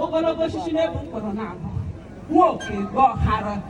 ogologo osisi na-ebu mkpụrụ na-abụ nwoke gọọ hara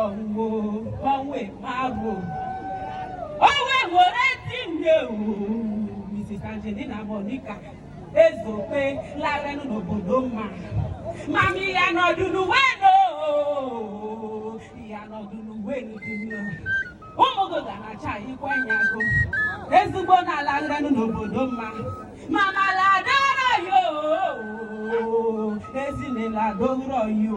ọwụwo ọnwe mabụ onwe were ezi nne Mrs. Angelina Monica Ezeokpe larenụ n'obodo mma mami ya nọdụ n'uwe no ya nọdụ n'uwe n'uduno ụmụ gị ga na-achakwa anya gị ezigbo nne larenụ n'obodo mma mama ladoro yo ezi nne ladoro yo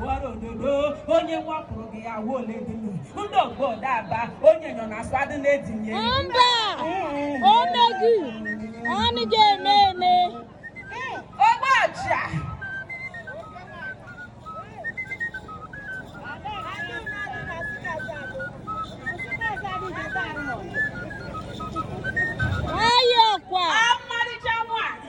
Buhari ododo onye nwapụrụ gị ya wuo ole dị nụ ndị ogbo daba onye nọ na asụ adị na-edinye mba o meghị ọnụ ga-eme eme ogbocha ayọkwa ọmarịcha nwaanyị